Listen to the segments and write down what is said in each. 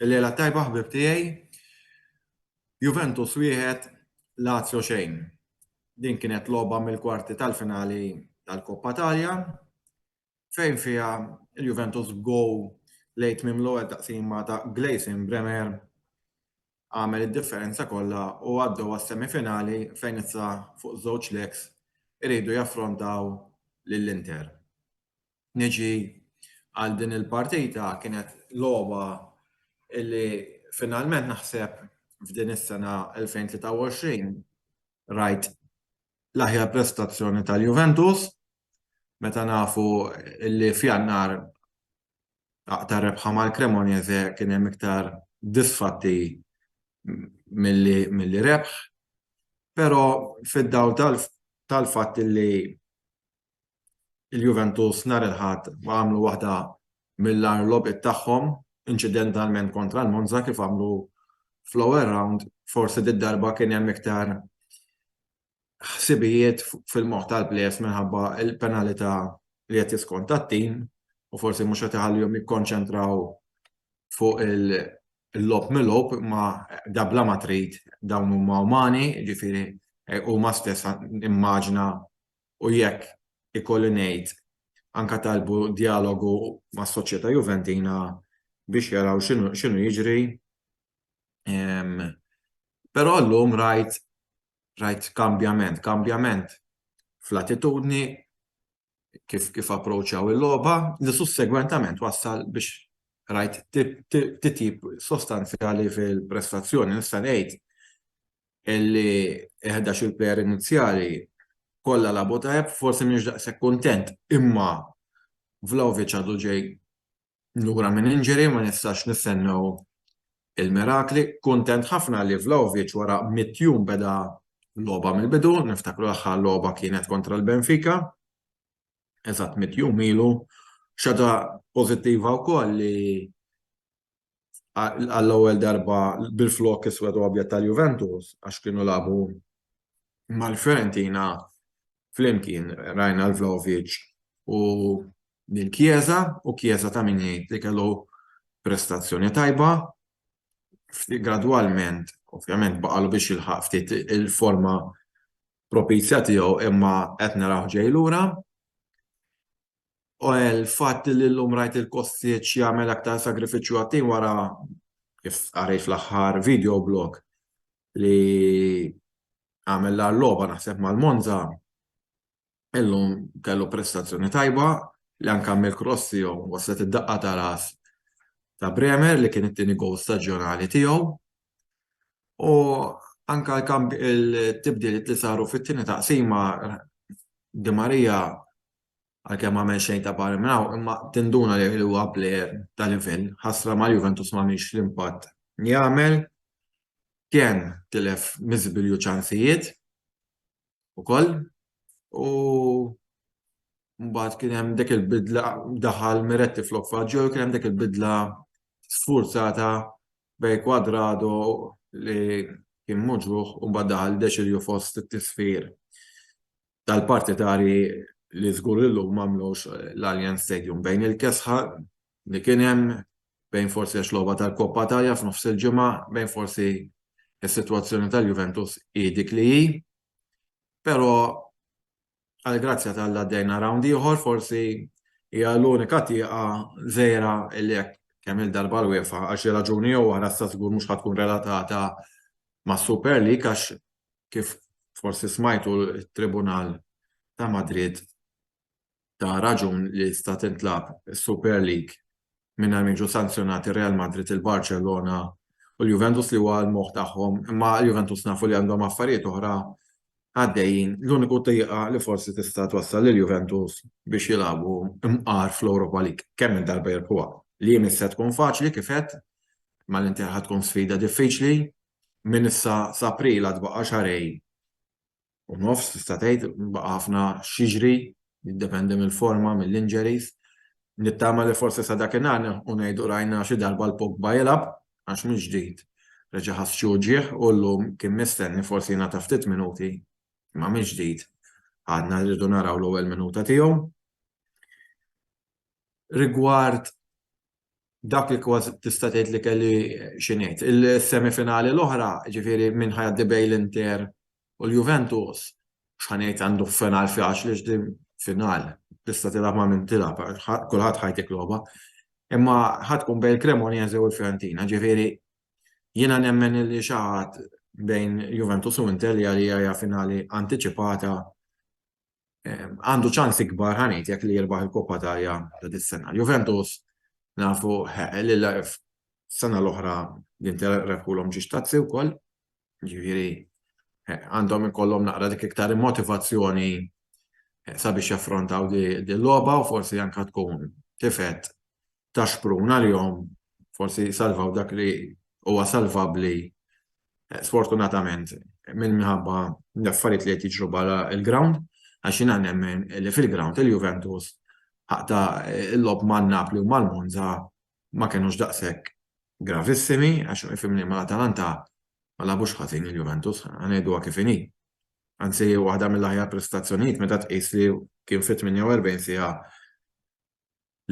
Il-lejla tajba ħbib tiegħi. Juventus wieħed Lazio xejn. Din kienet logħba mill-kwarti tal-finali tal-Koppa Talja. fejn fiha l-Juventus b'gowl lejn tmiem l-ewwel taqsima ta' Gleison Bremer għamel id-differenza kollha u għaddew għas-semifinali fejn issa fuq żewġ legs iridu jaffrontaw lill-Inter. Niġi għal din il-partita kienet logħba li finalment naħseb f'din is-sena 2023 rajt l-aħjar prestazzjoni tal-Juventus meta nafu li f'Jannar ta' rebħa mal-Cremonese kien hemm iktar disfatti milli rebħ, però fid-dawl tal-fatt li l-Juventus nhar il-Ħadd għamlu waħda mill-agħar logħbiet tagħhom inċidentalment kontra l-Monza kif għamlu fl-ewwel rawnd, forsi did-darba kien hemm iktar ħsibijiet fil-moħħ tal-plejers minħabba l-penalità li qed jiskonta t-tim u forsi mhux qed iħallihom jikkonċentraw fuq il-logħob milgħub imma da bla ma trid dawn huma umani, jiġifieri huma stess immaġna u jekk ikolli ngħid anke talbu djalogu mas-Soċjetà Juventina biex jaraw x'inhu jiġri. Però llum rajt rajt kambjament, kambjament fl-attitudni kif kif approċċaw il-logħba li sussegwentament wassal biex rajt titjib sostanzjali fil-prestazzjoni. Nista' ngħid illi eħda xi player inizjali kollha labu tajjeb, forsi mhix daqshekk kuntent, imma Vlaovic għadu ġej lura minn injury ma nistax nistennew il-mirakli. Kuntent ħafna li Vlahovic wara mitt jum beda logħba mill-bidu, niftakru l-aħħar logħba kienet kontra l-Benfica eżatt mitt jum ilu. Xi ħaġa pożittiva wkoll li għall-ewwel darba bil-flokk iswed u abjad tal-Juventus għax kienu lagħbu mal-Fiorentina flimkien rajna l-Vlahovic u lil Chiesa u Chiesa ta' min jgħid li kellu prestazzjoni tajba gradwalment ovvjament baqalu biex jilħaq ftit il-forma propizja tiegħu imma qed narawh ġej lura. l-fatt li llum rajt lil Kostic jagħmel aktar sagrifiċċju għat-tim wara kif qarejt fl-aħħar video blog li għamel l-agħar logħba naħseb mal-Monza illum kellu prestazzjoni tajba li anke għamel cross tiegħu waslet id-daqqa ta' ras ta' Bremer li kien it-tieni gowl staġjonali tiegħu u anke l-tibdiliet li saru fit-tieni taqsima Di Maria għalkemm għamel xejn ta' barra minn hawn, imma tinduna li huwa plejer ta' livell. Ħasra ma' Juventus ma mhix l-impatt jagħmel. Kien tilef miżbilju ċansijiet ukoll u mbagħad kien hemm dik il-bidla daħal Miretti flok Faġġo kien hemm dik il-bidla sfurzata bej kwadrado li kien muġruħ u mbagħad daħal deċilju fost it-tisfir. tal-partitari li żgur illum m'għamlux l-Allianz Stadium bejn il-kesħa li kien hemm bejn forsi għax logħba tal-Coppa Italia f'nofs il-ġimgħa bejn forsi s-sitwazzjoni tal-Juventus hi dik li hi. Però għall-grazzja tal-Alla għaddejna rawnd ieħor forsi hija l-unika tieqa żgħira li hekk kemm il-darba l-UEFA għal xi raġuni jew oħra sa żgur mhux ħadd tkun relatata mas-Super League għax kif forsi smajtu t-Tribunal ta' Madrid ta raġun li tista' tintlagħab is-Super League mingħajr ma jiġu sanzjonati Real Madrid, il-Barċellona u l-Juventus li huwa l-moħħ tagħhom, imma l-Juventus nafu li għandhom affarijiet oħra għaddejjin. L-uniku tieqa li forsi tista' twassal lill-Juventus biex jilagħbu mqar fl-Europa League, kemm il darba jirbħuha. Li mhix se tkun faċli kif għedt, mal-Inter ħa tkun sfida diffiċli, minn issa s'April għad baqa' xahrejn u nofs tista' tgħid, baqa' ħafna x'jiġri, jiddependi mill-forma, mill-injuries. Nittama li forsi sa dakinhar nilħqu ngħidu rajna xi darba 'l Pogba jilgħab għax mill-ġdid reġa' ħass xi uġigħ u llum kien mistenni forsi jingħata ftit minuti imma mill-ġdid għadna rridu naraw l-ewwel minuta tiegħu. Rigward dak li kważi tista' tgħid li kelli xi ngħid. Il-semifinali l-oħra, ġifieri minn ħajaddi bejn l-Inter u l-Juventus, x'ħanejt għandu final faċli x'din final. Tista' tilgħab ma' min tilgħab, kulħadd ħajtik logħba. Imma ħadd tkun bejn il-Cremonese u l-Fiorentina, ġifieri jiena nemmen li xi ħadd bejn Juventus u Inter li għalija hija finali antiċipata għandu ċans ikbar ħanejt jekk li jirbaħ il-Koppa Italja ta' dis-sena. Juventus nafu li sena l-oħra l-Inter rebħulhom ġiex tazzi wkoll. Ġifieri għandhom ikollhom naqra dik iktar motivazzjoni sabiex jaffrontaw din logħba u forsi anke tkun tifet ta' xprun għalihom forsi jsalvaw dak li huwa salvabbli sfortunatament minn minħabba l-affarijiet li qed jiġru barra l-ground għax jiena nemmen li fil-ground il-Juventus ħaqta l-logħob ma' Napli u mal-Monza ma kenux daqshekk gravissimi għax ifhimni mal-Atalanta ma lagħbux ħażin il-Juventus ħa ngħiduha kif inhi. Anzi waħda mill-aħjar prestazzjonijiet meta tqis li kien fi 48 siegħa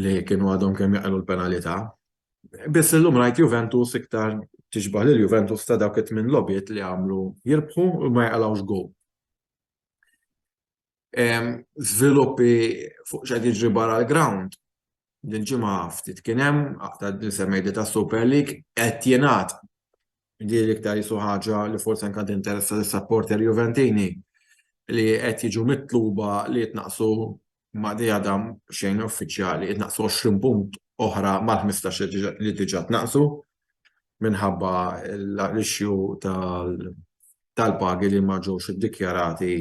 li kienu għadhom kemm jaqilgħu l-penalità. Biss illum rajt Juventus iktar tixbah lil Juventus ta' dawk it-tmien logħbiet li għamlu jirbħu u ma jaqilgħux gowl. Żviluppi fuq x'qed jiġri barra l-ground. Dil-ġimgħa ftit kien hemm, aktar li semmejt ta' Super League, qed jingħad Jidhirli iktar qisu ħaġa li forsi anke għad tinteressa lis-sapporter Juventini li qed jiġu mitluba li jitnaqqsu ma' di għadha xejn uffiċjali, jitnaqqsu 20 punt oħra mal-ħmistax li diġà tnaqqsu minħabba l-issue tal-pagi li ma ġewx iddikjarati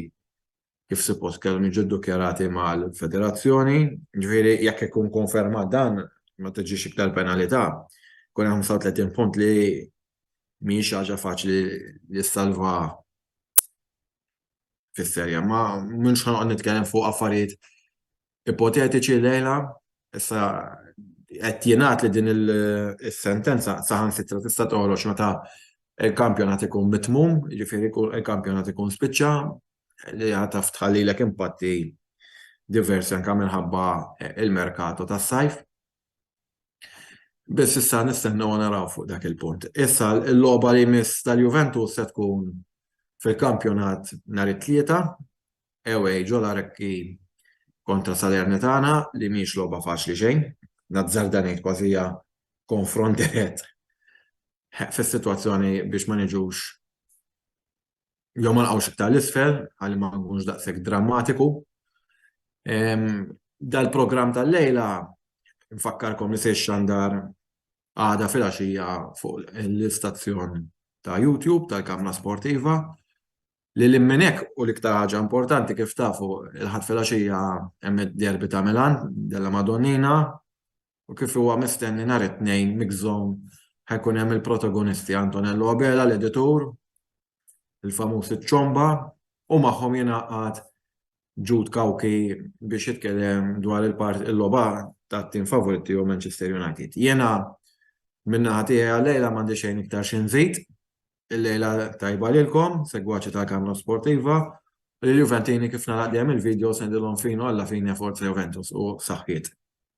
kif suppost kellhom jiġu ddukjarati mal-Federazzjoni, ġifieri jekk ikun konfermat dan ma tiġix iktar penalità. Kun hemm 35 punt li mhijiex ħaġa faċli li ssalva fis-serja, ma mhux ħanoqgħod nitkellem fuq affarijiet ipotetiċi llejla, issa qed jingħad li din is-sentenza saħansitra tista' toħroġ meta l-kampjonat ikun mitmum, jiġifieri l-kampjonat ikun spiċċa li għad tħallilek impatti diversi anke minħabba l-merkato tas-sajf. Biss issa nistennew naraw fuq dak il-punt. Issa l-logħba li jmiss tal-Juventus se tkun fil-kampjonat nhar it-Tlieta, away ġol Arekki kontra Salernitana li mhix logħba faċli xejn. Nazzarda ngħid kważi hija konfront dirett fis-sitwazzjoni biex ma niġux jew ma nqgħux iktar l-isfel ħalli ma nkunx daqshekk drammatiku. Dal-programm tal-lejla nfakkarkom li se jxandar għada filgħaxija fuq l-istazzjon ta' YouTube tal-Kamra Sportiva. Lil minn hekk u l-iktar ħaġa importanti kif tafu l-Ħadd filgħaxija hemm id-derby ta' Milan, Della Madonnina, u kif huwa mistenni nhar it-Tnejn Mix Zone ħa jkun hemm il-protagonisti Antonello Abela l-editur, il-famuż iċ-Ċomba u magħhom jingħaqad Jude Cauchi biex jitkellem dwar il-logħba tat-tim favorit tiegħu Manchester United. Jiena min-naħa tiegħi għal-lejla m'għandi xejn iktar xi nżid. Il-lejla tajba lilkom, segwaċi ta' Kamra Sportiva, u l-Juventini kif nagħlaq dejjem il-video sendilhom finu alla fine forza Juventus u saħħiet.